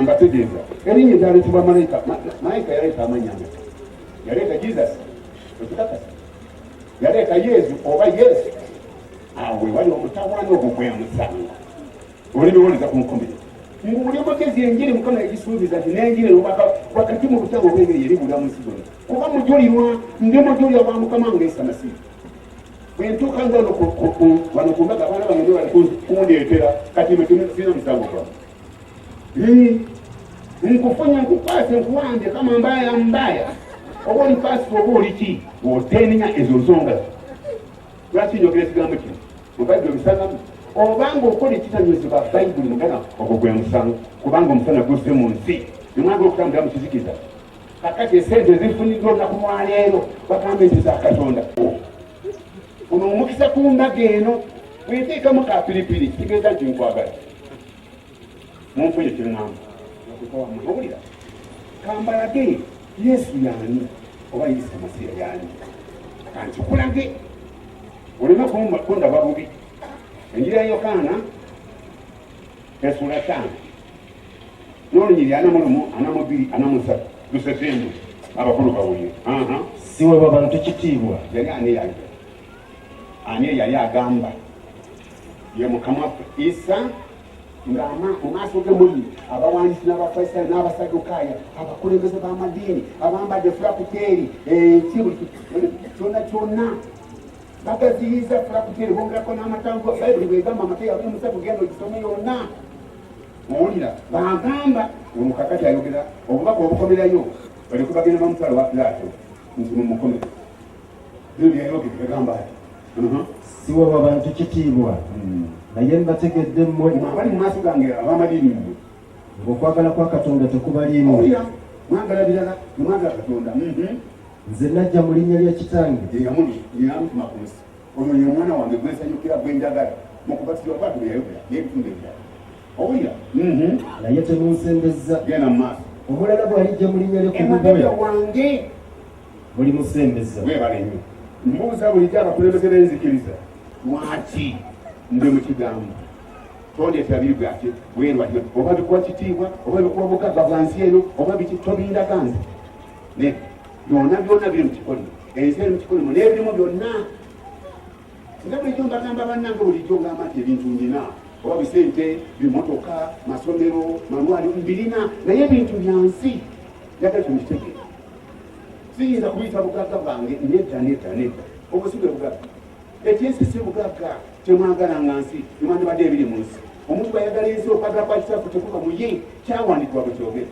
mbategeeza erinnya eryaleetebwa malayika malayika yaleeta amanya yaleeta jesus ekikakasa yaleeta yesu oba yesu awo wewali omutawana ogwo gwemusanga olibiwuliza ku nkomere nguli omugezi enjiri mukama yagisuubiza nti nenjiri nobaka wakati mu butabo bwengeri yeri bulamusi gona kuba mujulirwa ndi mujulira wa mukama ngaesamasiizi bwentuuka nze wano wano ku mbaga abaana bange bali kundeetera kati no kimukufiina musango gwa nkufunya nkukwase nkuwambye kama mbaya mbaya oba omukwasi oba oli ki otenenya ezo nsonga lwaki njogera ekigambo kino mubadde obisangamu obanga okola ekitanyozebwa bayibuli mugana ogwo gwe musango kubanga omusana guzze mu nsi nemwagala okutambulira mu kizikiza kakati esente ezifuniddwa olunaku lwaleero bagambe nti za katonda ono omukisa ku mbaga eno bwenteekamu ka piripiri kitegeeza nti nkwagala munfuye kyeŋŋamba owulira kambalage yesu yaani oba yesu masiya yaani kankikulage oleme kundaba bubi enjira yokaana Esula tano nolunyiri ana mulumu ana mubiri ana musatu lusesembu abakulu bawulire siwewa bantu kitiibwa yali ani yali ani eyali agamba ye mukama waffe isa nga mu maaso ge muli abawandiisi n'abafarisayo n'abasadukaaya abakulembeze b'amadiini abambadde fulakuteeri enki eh, buli kyona kyonna bagaziyiza fulakuteri bongerako n'amatango bayibuli bwegamba amata yabuli musatu genda ogisome yonna owulira bagamba omukakati ayogera obubaka obukomerayo baleko bagenda bamusala wa pilato nti mumukomera byo byayogera gagamba ati uh-huh. siwaba bantu kitiibwa hmm. naye mbategedde mmwe abali mu maaso gange abamadiini mmwe ng'okwagala kwa katonda tekubaliimu mwagala birala mwagala katonda mm-hmm. nze najja mu linnya lya kitange eyamuli eyantuma ku nsi ono ye mwana wange gwe nsanyukira gwe njagala mu kubatizibwa kwatu bwe yayogera n'ebitundu ebirala owulira mhm. naye temunsembezza genda mu maaso omulala bw'alijja mu linnya lyo kumugoya wange muli musembeza webale nnyo mbuuza bulijjo abakulembeze b'enzikiriza lwaki nze mu kigambo tondeetera biri bwaki bwerwatyo oba bikuwa kitiibwa oba bikuwa bugagga bwa nsi eno oba biki tobindaga nze ne byona byona biri mukikolimo ensi eri mukikolimo n'ebirimu byonna nga bulijjo mbagamba bannange bulijjo ngamba nti ebintu ndina oba bisente bimotoka masomero malwali mbirina naye ebintu byansi njagala kino kitegeera siyinza kuyita bugagga bwange nedda nedda nedda obusigwe bugagga ekyensi si bugagga kyemwagala nga nsi nemwandibadde ebiri mu nsi omuntu bwayagala ensi okwagala kwakitafu tekuka muye kyawandikibwa bwekyogere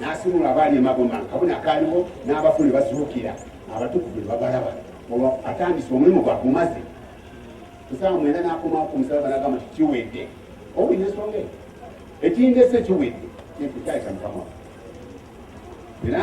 n'asimula abaali emagoma akabona akaaliwo n'abafu ne bazuukira abatukuvu ne babalaba olwo atandise omulimu gwagumaze kusaawa mwenda n'akomawo ku musalaba n'agamba nti kiwedde owulira ensonga eyo ekindese kiwedde kyekyo kyali kya mukama era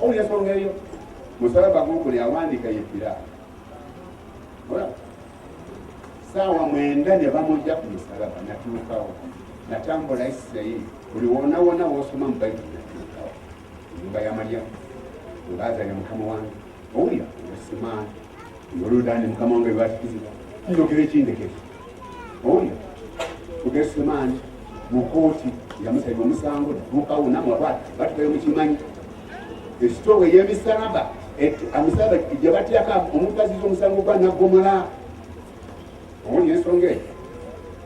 Oyo ensonga eyo musala bagunkuli awandiika yebbira saawa mwenda ne bamujja ku musalaba natuukawo natambula isirayiri buli wonawona wosoma mu bayibuli natuukawo nyumba ya malyamu webaazanya mukama wange owulira osimaani Yorudaani mukama wange lwakituziba njogere kindekere oyo kugesemaani mu kooti yamusabye omusango mukawo namwakwata batukayo mukimanyi esitoowa ey'emisalaba amisalaba gyebatyako omuntu aziza omusango gwa naggomola omuli ensonga eyo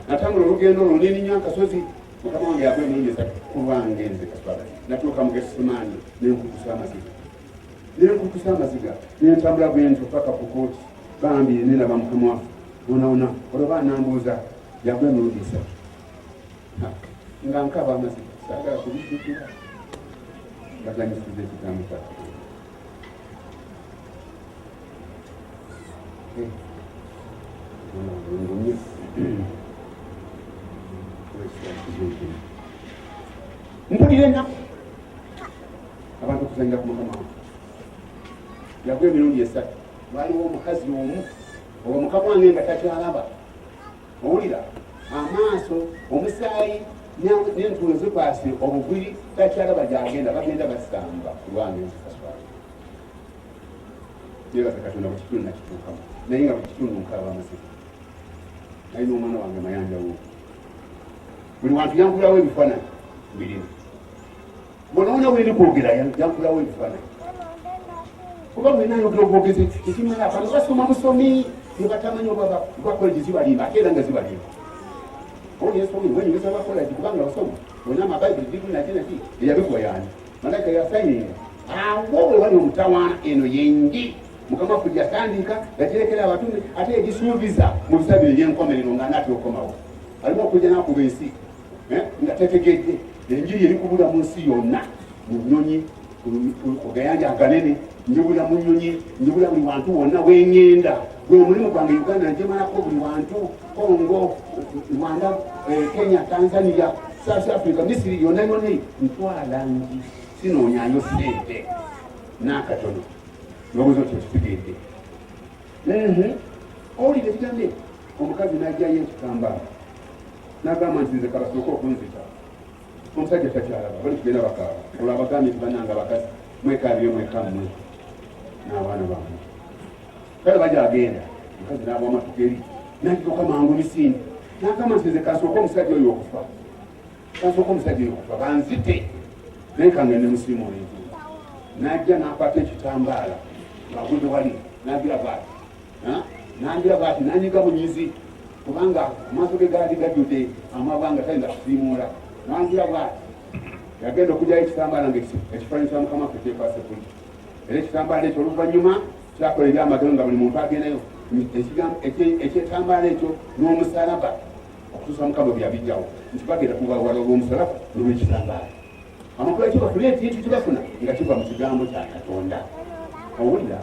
natambula olugendo olwo neninya akasozi mukama wange yagwa emirundi esatu kulwange nze kaswala natuuka mu gesemaani nenkukusa amaziga nekukusa amaziga nentambula bwentyo paka ku kooti bambi nenaba mukama waffe onaona olwoba anambuuza yagwa emirundi esatu nga nkaba amaziga sagala kubijjukira baganyisiza ekigambo kya eh. mpulira enaku abantu okuzanyira ku mukama wange yakuba emirundi esatu waliwo omukazi omu oba mukama wange nga takyalaba owulira amaaso omusaayi nentulo zikwasi obugwiri takyalaba gyagenda bagenda basamba kulwange nzikaswala yebaza katonda buli kitundu nakituukamu naye nga buli kitundu nkalaba amasika naye n'omwana wange mayanja wo buli wantu yankulawo ebifaananyi birimu bwonoonya weri kwogera yankulawo ebifaananyi kuba mwena ayogera obwogezi ekimala abantu basoma busomi nebatamanyi oba bakolegi zibalimba ate era nga zibalimba oyesomi wenyumisa bakolagi kubanga osoma wena amabaibuli digunajinaki eyabikuwa yani malaika yasayininga awo wewali omutawaana eno yengi mukama ffe yatandika yagirekera abatume ate yagisuubiza mu bisabiro ebyenkomerero nga anaatera okukomawo alimu okujja nakuba ensi eh, nga tetegedde enjiri eri kubula mu nsi yonna mu nyonyi kugayanja aganene njibula mu nyonyi njibula buli wantu wonna wengenda gwe omulimu gwange uganda njemalako buli wantu congo rwanda eh, kenya tanzania south africa misiri yonna yonna ntwala nji sinoonyayo sente n'akatono nobuza otyo kitegedde owulira ekigambe omukazi n'ajjayo ekitambala nagamba nti nze kabasooka okunzita omusajja takyalaba bali tugenda bakaaba olwo abagambye nti bananga bakazi mwekaabye mweka mmwe n'abaana bamwe kale baja agenda mukazi n'aba amatugeri nakigoka mangu misindi nagamba nti nze kasooka omusajja oyo okufa kasooka omusajja oyo okufa banzite naye kange ne musirimu oyenzu najja nakwata ekitambaala ngagunde wali nagira baati nangira bwati nanyiga bunyizi kubanga amaaso ge gaali gajjudde amabwa nga tayinza kusiimuula nangira bwati yagenda okugyayo ekitambaala nga ekifaananyi kya mukama ffe kyekwasa ebbuli era ekitambaala ekyo oluvannyuma kyakola ebyamagero nga buli muntu agendayo ekyetambaala ekyo n'omusalaba okutuusa mukama byabijjawo nti bagenda kubawala olw'omusalaba nolwekitambaala amakula kibafuna ekintu kibafuna nga kiva mu kigambo kya katonda owulira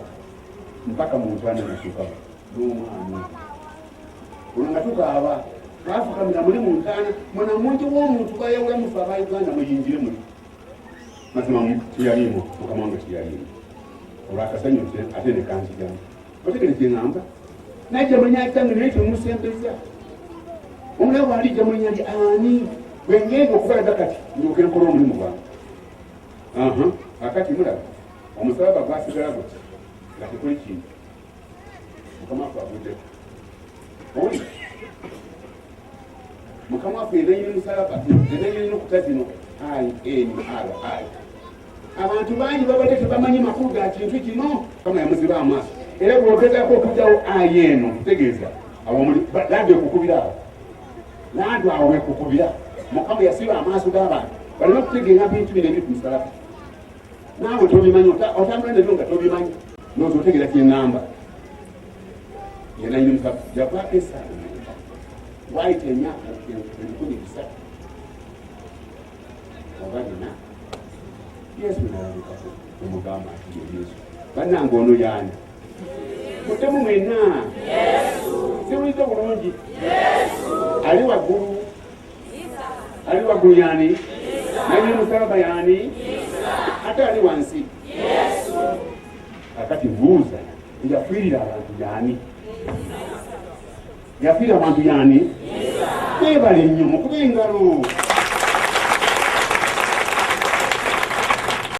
mpaka mu ntwana natuka n'omwana olwo nga tukaaba twafukamira muli mu ntaana mwana mungi w'omuntu bayawula mufe aba uganda muyingire muli mazima teyaliimu mukama wange teyaliimu olwakasanyo ate nekanzijamu otegere kyeŋamba naye jamanya kyange naye kyemusembeza omulabe wali jamanya ndi ani bwengenda okubalaga kati ndoke nkola omulimu gwange akati mulaba omusalaba gwasigala gutya nga tekuli kintu mukama fe aguddeko oli mukama fe ebenyini musalaba ebenyini nokuta zino inri abantu bangi babadde tebamanyi makulu ga kintu kino kama yamuziba amaaso era bwogezako okujawo ayi eno kutegeeza awomuli landi okukubira awo landi awo wekukubira mukama yasiba amaaso g'abantu balina okutegeera bintu bino ebiri ku musalaba naawe tobimanyi otambula nabyo nga tobimanyi noza otegera kyenamba yenayinza java esaala waayita emyaka ebikumi bisatu oba bina yesu nalabikako omugamba nti ye yesu bannanga ono yaani mutemu mwena siwuliza bulungi ali waggulu ali waggulu yaani naye musalaba yaani ate ali wansi akati buuza yafiirira abantu yaani yafiirira abantu yaani bebale nnyo mukuba engalo